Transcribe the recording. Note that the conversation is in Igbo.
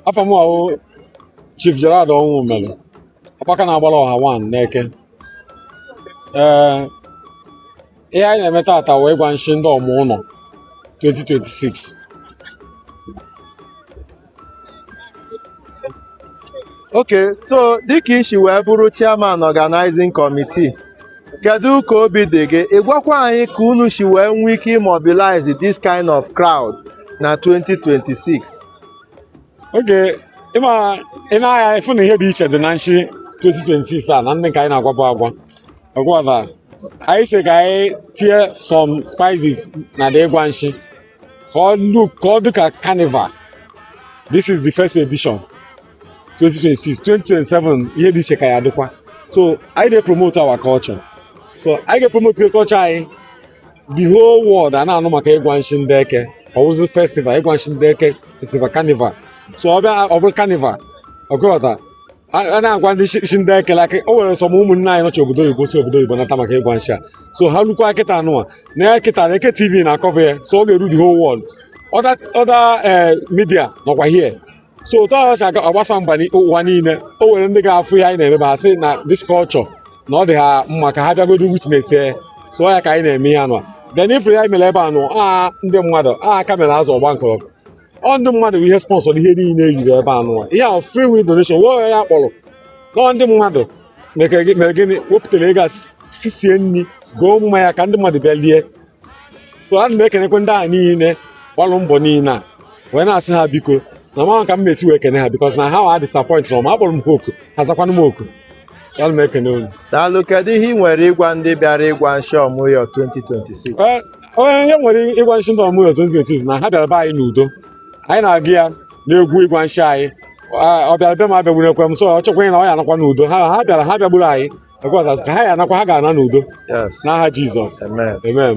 afa m wụ Chief Gerald Ọnwụmelu Akpaka na-agbara ọha one n'Eke ee ihe anyị na-eme taata wụ ịgwa nshi ndị ọmụ ụlọ 2026 okay so dịka i si wee bụrụ chairman organizing committee kedu ka obi dị gị ị gwakwa anyị ka unu si wee nwee ike imobilize this kind of crowd na 2026 okay ị ma ị naghị afụ na ihe dị iche dị na nshi 2026 a na ndị nke anyị na-agwabụ agwa ọgwa na anyị sị ka anyị tie some spices na the ịgwa nshi ka ọ look ka ọ dị ka carnival this is the first edition 2026 2027 ihe dị iche ka ya-adịkwa so anyị na-epromote our culture so anyị ga-epromote culture anyị the whole world a na-anụ maka ịgwa nshi ndị eke ọ wụzi festival ịgwa nshi ndị eke festival carnival so ọ bịa ọ bụrụ carnival ọgụghọta a na-agwa nshi ndị eke like o nwere some ụmụnne anyị nọchi obodo oyibo si obodo oyibo nata maka ịgwa nshi a so ha lukwa kịta anụwa na ya kịta na eke tv na-ecover ya so ọ ga-eru the whole world other other eh, media nọkwa here so otu ahụ si aga- agbasa mba ni- ụwa niile o nwere ndị ga-afụ ihe anyị na-eme ha sị na this culture na ọ dị ha mma ka ha bịagodo witness ya so ọ ya ka anyị na-eme ihe anụ then ifere ya mere ebe anụ a ndị mmadụ a kamera azụ ọgba nkọrọ ọ ndị mmadụ bụ ihe sponsor ihe niile yiri ebe anụ a. ihe ahụ free will donation wee ya kpọrọ nọọ ndị mmadụ mere gị- mere gịnị wepụtara ego a si- sisie nri goo mmanya ka ndị mmadụ bịa lie so ana m ekenekwe ndị a niile gbalụ mbọ niile a wee na-asị ha biko na ma ka m na-esi wee kene ha because na ha wa disappoint na ma akpọrọ m ha oku ha zakwanụ m oku so ana m ekene unu daalụ kedu ihe ị nwere ịgwa ndị bịara ịgwa nshi ọmụyọ 2026 onye ihe m nwere ịgwa nshi ndị ọmụyọ 2026 na ha bịara be anyị n'udo anyị na-agụ ya n'egwu ịgwa nshi anyị ọ bịara be m abịagbulekwe m so ọ chọkwa ịna ọ ya-anakwa n'udo ha ha bịara ha bịagburu anyị Ekwatazụ ka ha ya-anakwa ha ga-ana n'udo Yes. n'aha Jizọs Amen. amen